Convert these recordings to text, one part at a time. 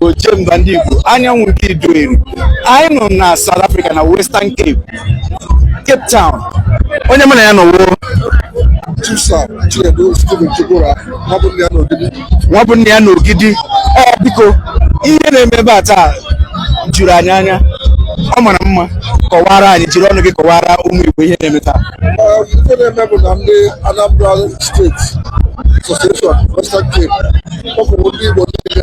Ojemba ndị Igbo anyanwụ nke Idueri anyị nọ na South Africa na Western Cape Cape Town onye mụ na ya nọ wụ nwa bụ nne ya n'Ogidi ee biko ihe na-eme ebe a taa juru anyị anya ọ mara mma kọwara anyị jiri ọnụ gị kọwara ụmụ Igbo ihe na-eme taa ife na-eme bụ na ndị Anambra steeti Association Western Cape kpọkọrọ ndị Igbo niile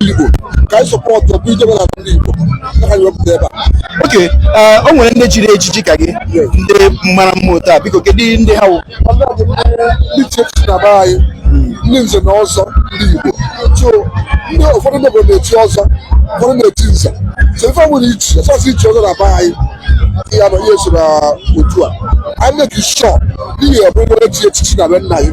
Igbo ka anyị support ọ bụ ijebe na ndị Igbo ka anyị wepụta ebe a okay o nwere ndị chiri echichi ka gị ndị mara mma otu a biko kedu ndị ha wụ ndị echichi na be anyị ndị nze na ọzọ ndị Igbo so ndị ụfọdụ ndị obodo na-echi ọzọ ụfọdụ na-echi nze so ife nwere ichi ọ sọsọ ichi ọzọ na be anyị ya na ihe so na otu a anyị na-make sure n'ihi ọ bụrụ onye chi echichi na be nna ya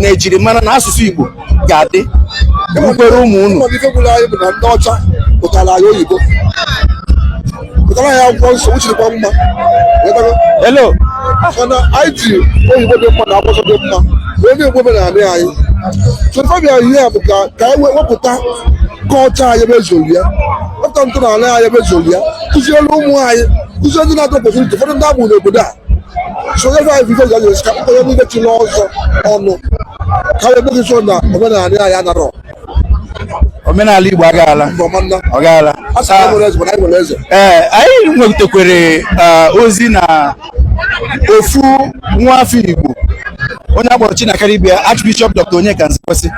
na ejirimara na asụsụ Igbo ga-adị ukwere ụmụ unu ndị ọcha butara anyị oyibo butara anyị akwụkwọ nsọ uchirikwa mma elo mana anyị ji oyibo dị mma na akwụkwọ dị mma wee na-egbu omenala anyị so ife bịa ihe a bụ ka ka anyị wepụta culture anyị ebe e zolu ya wepụta ntọala anyị ebe e zolu ya kụziere ụmụ anyị kụziere ndị na-enwetarọ opportunity ụfọdụ ndị a mụrụ n'obodo a sonyere anyị vidio ga-eji esi ka mkpụrụ niile chiri ọzọ ọnụ ka e wee make sure na omenala anyị anarọ omenala Igbo aga-ala ọ ga-ala ee anyị nwetakwere ozi na ofu nwa afọ Igbo onye a kpọrọ Chinakaribia Archbishop Dr Onyeka Nzekwesị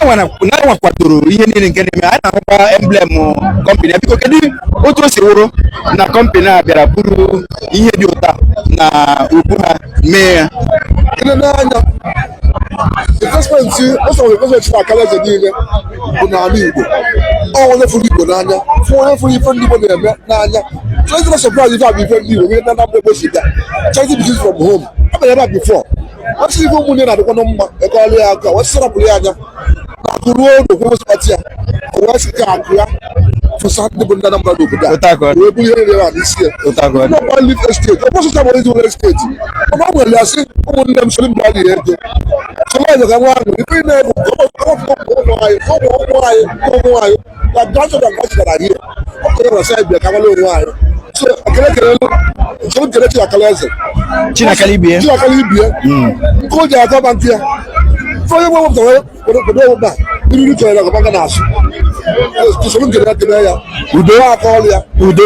na-enwe kwadoro ihe niile nke na-eme anyị na-ahụkwa emblem company biko kedu otu o si wụrụ na company a bịara buru ihe dị otu a n'ubu ha mee ya n'anya investment ọsọrọ investment na akalaeze niile bụ n'ala Igbo ọ onye fụrụ Igbo n'anya fụ onye fụrụ ife ndị Igbo na-eme n'anya so it's not surprise ife a bụ ife ndị Igbo nwere na Anambra Igbo si bịa charity begins from home ọ bịara ebe a before ọ sị ife ụmụnne na-adịkwanụ mma e kụọrọ ya aka wee sarapụrụ ya anya na akụ ruo ụnọ o kwuo ebe e si kpata ya o wee sị ka akụ ya fesa ndị bụ ndị Anambra n'obodo a wee buru ihe niile a n'isi ya ọ nọkwa real estate ọ bụsụcha bụ ezi nwere estate mana ọ nwere ya sị ụmụnne m sịrị mgbe a na-ere ego sọlọ ọzọ ka nwa ahụ ife na-egwu ka ọ bụ ụmụ anyị ụmụ ụmụ anyị ụmụ anyị na grandchildren nke anyị gara hie ọ pụtara na side bịa ka nwere onwe anyị so ekele kelelu njem nkele chinakala eze chinakala ibie chinakala ibie hmm. nke o ji atọ ba nke ya fọ onye nwe wepụtara obodo ọ wụba mmiri chọrọ ya gọba ga na-asụ usoro nkele ya kele ya udo a kụọrọ ya udo